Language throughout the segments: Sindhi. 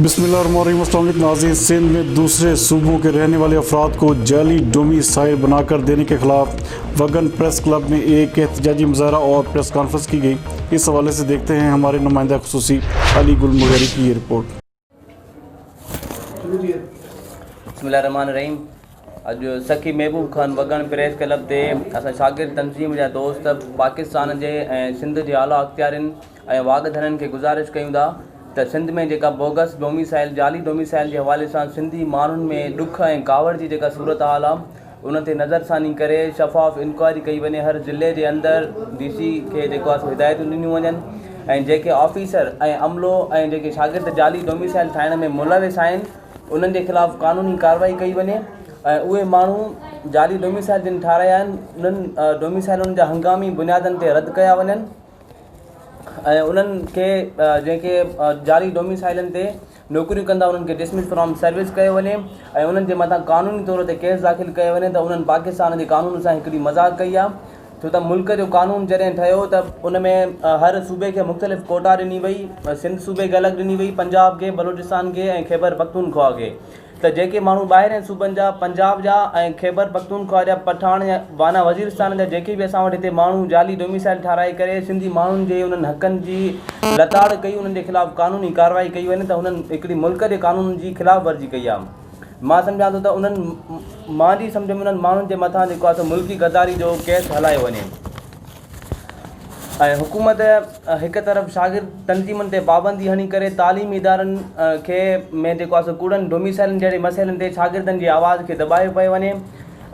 بسم الله الرحمن الرحيم السلام عليڪم ناظرين سندھ ۾ دوسري صوبون ڪي رهني والي افراد ڪو جعلي ڊومي سائل بنا ڪر ديني ڪي خلاف وگن پريس ڪلب ۾ ايڪ احتجاجي مظاهره اور پريس ڪانفرنس ڪي گئي اس حوالي سي ديکتي هين هماري نمائنده خصوصي علي گل مغيري ڪي يي رپورٽ. بسم الله الرحمٰن الرحيم اڄ سخي محبوب خان وڳڻ پريس ڪلب تي اسان شاگرد تنظيم جا دوست پاڪستان جي ۽ سنڌ جي اعليٰ اختيارين ۽ واڳ ڌڻين کي گذارش ڪيون ٿا ته سنڌ ۾ جيڪا بوگس ڊوميسائل جعلي ڊوميسائل جي حوالي سان سنڌي ماڻهن ۾ ڏک ۽ ڪاوڙ جي جيڪا صورتحال آهي ان تي نظر ثاني ڪري شفاف انڪوائري ڪئي وڃي هر ضلعي جي اندر ڊي سي کي جيڪو آهي سو هدايتون ڏنيون وڃن ۽ جيڪي آفيسر ۽ عملو ۽ جيڪي شاگرد جعلي ڊوميسائل ٺاهڻ ۾ ملوث آهن انهن جي خلاف قانوني ڪاروائي ڪئي وڃي ۽ اهي ماڻهو جعلي ڊوميسائل جن ٺاهرايا آهن انهن ڊوميسائلن جا هنگامي بنيادن تي رد ڪيا وڃن ۽ انهن کي جنهن کي جعلي ڊوميسائيلن تي نوڪريون ڪندا انهن کي ڊسمس فرام سروس ڪيو وڃي ۽ انهن جي مٿان قانوني طور تي ڪيس داخل ڪيو وڃي ته انهن پاڪستان جي قانون سان هڪڙي مذاق ڪئي آهي ڇو ته ملڪ جو قانون جڏهن ٺهيو ته ان ۾ هر صوبي کي مختلف ڪوٽا ڏني وئي سنڌ صوبي کي الڳ ڏني وئي پنجاب کي بلوچستان کي ۽ خيبر پختونخواهه کي ته جيڪي ماڻهو ٻاهرين صوبن جا، پنجاب جا ۽ خيبر پختونخوا جا، پٺاڻ يا وانا وزيرستان جا جيڪي به اسان وٽ هتي ماڻهو جعلي ڊوميسائيل ٺاهرائي ڪري سنڌي ماڻهن جي انهن حقن جي لتاڙ ڪئي انهن جي خلاف قانوني ڪارروائي ڪئي وڃي ته هنن هڪڙي ملڪ جي قانونن جي خلاف ورزي ڪئي آهي مان سمجهان ٿو ته انهن مانجي سمجهه ۾ انهن ماڻهن جي مٿان جيڪو آهي سو ملڪي غداري جو ڪيس هلايو وڃي. ۽ حڪومت هڪ طرف شاگرد تنظيمن تي پابندي هڻي ڪري تعليمي ادارن کي ۾ جيڪو آهي سو ڪوڙن ڊوميسائلن جهڙي مسئلن تي شاگردن جي آواز کي دٻايو پيو وڃي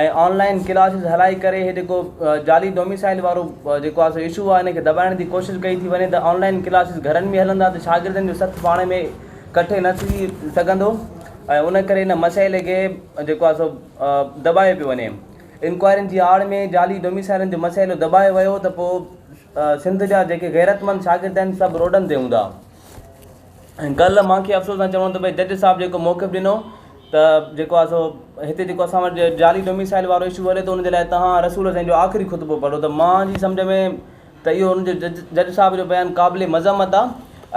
۽ آنلائن ڪلاسز هلائي ڪري هي جيڪو جعلي ڊوميسائل وارو جيڪو آهي سو اشو آهي ان کي دٻائڻ جي ڪوشش ڪئي ٿي وڃي ته آنلائن ڪلاسز گهرن ۾ هلندا ته شاگردن جو سٿ پاڻ ۾ ڪٺي نه ٿي سگهندو ۽ ان ڪري ان مسئلي کي جيڪو آهي سو دٻايو پيو وڃي انڪوائرين جي آڙ ۾ جعلي ڊوميسائلن جو مسئلو دٻايو ويو ته پوء سنڌ جا جيڪي غيرتمند شاگرد آهن سڀ روڊن تي هوندا ۽ ڪلهه مان کي افسوس سان چوڻو ته ڀئي جج صاحب جيڪو موقف ڏنو ته جيڪو آهي سو هتي جيڪو اسان وٽ جعلي ڊوميسائل وارو اشو هلي ٿو ان جي لاء تهان رسول حسين جو آخري خطبو پڙهو ته مان جي سمجهه ۾ ته اهو هن جو جج صاحب جو بيان قابل مذمت آ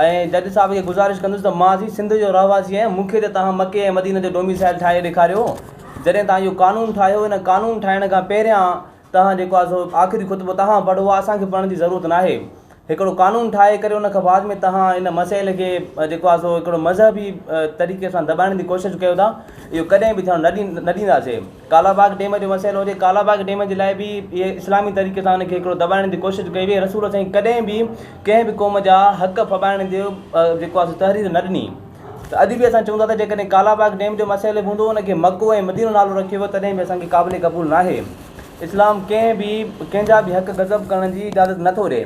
۽ جج صاحب کي گذارش ڪندس ته مان سين سنڌ جو رهواسي آهيان مون کي ته توهان مڪي ۽ مدينه جو ڊوميسائل ٺاهي ڏيکاريو جڏهن توهان اهو قانون ٺاهيو ان قانون ٺاهڻ کان پهريان توهان جيڪو آ سو آخري خطبو توهان پڙهو آ اسان کي پڙهڻ جي ضرورت ناهي هڪڙو قانون ٺاهي ڪري ان کان بعد ۾ توهان ان مسئلي کي جيڪو آ سو هڪڙو مذهبي طريقي سان دٻائڻ جي ڪوشش ڪيو ٿا اهو ڪڏهن به ٿيڻ نه ڏينداسين ڪالا باغ ڊيم جو مسئلو هجي ڪالا باغ ڊيم جي لاء به اسلامي طريقي سان ان کي هڪڙو دٻائڻ جي ڪوشش ڪئي وئي رسول سائين ڪڏهن به ڪنهن به قوم جا حق ڦٻائڻ جو جيڪو آهي سو تحرير نه ڏني ته اڄ به اسان چئون ٿا ته جيڪڏهن ڪالا باغ ڊيم جو مسئلو به هوندو ان کي مڪو ۽ مدينو نالو رکيو ويو تڏهن به اسان کي قابل قبول ناهي اسلام ڪنهن به ڪنهن جا به حق غصب ڪرڻ جي اجازت نٿو ڏئي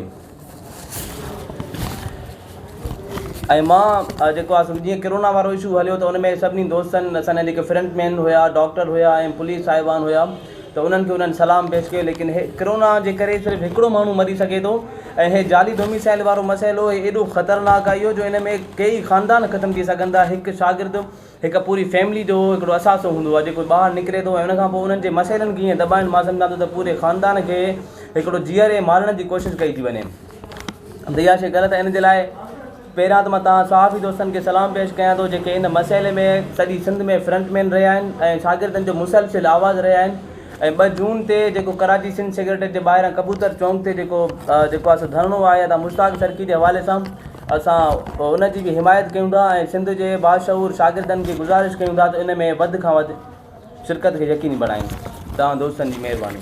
۽ مان جيڪو آ جيئن ڪرونا وارو اشو هليو ته ان ۾ سڀني دوستن اسانجا جيڪي فرنٽ مين هيا ڊاڪٽر هيا ۽ پوليس صاحبان هيا ته انهن کي انهن سلام پيش ڪيو ليڪن هي ڪرونا جي ڪري صرف هڪڙو ماڻهو مري سگهي ٿو ۽ هي جعلي ڊوميسائل وارو مسئلو ايڏو خطرناڪ آ اهو جو ان ۾ ڪيئي خاندان ختم ٿي سگهن ٿا هڪ شاگرد هڪ پوري فيملي جو هڪڙو اثاثو هوندو آهي جيڪو ٻاهر نڪري ٿو ۽ ان کان پوء انهن جي مسئلن کي ائين دٻائن مان سمجهان ٿو ته پوري خاندان کي هڪڙو جيئري مارڻ جي ڪوشش ڪئي ٿي وڃي ته اها شيء غلط آهي ان جي لاء پهريان ته مان توهان صحافي دوستن کي سلام پيش ڪيان ٿو جيڪي ان مسئلي ۾ سڄي سنڌ ۾ فرنٽ مين رهيا آهن ۽ شاگردن جو مسلسل آواز رهيا آهن ۽ ٻه جون تي جيڪو ڪراچي سنڌ سيڪريٽريٽ جي ٻاهران ڪبوتر چونڪ تي جيڪو جيڪو آهي سو ڌرڻو آهي ادا مشتاق سرڪي جي حوالي سان اسان ان جي به حمايت ڪيون ٿا ۽ سنڌ جي باشعور شاگردن کي گذارش ڪيون ٿا ته ان ۾ وڌ کان وڌ شرڪت کي يقيني بڻائين. توهان دوستن جي مهرباني.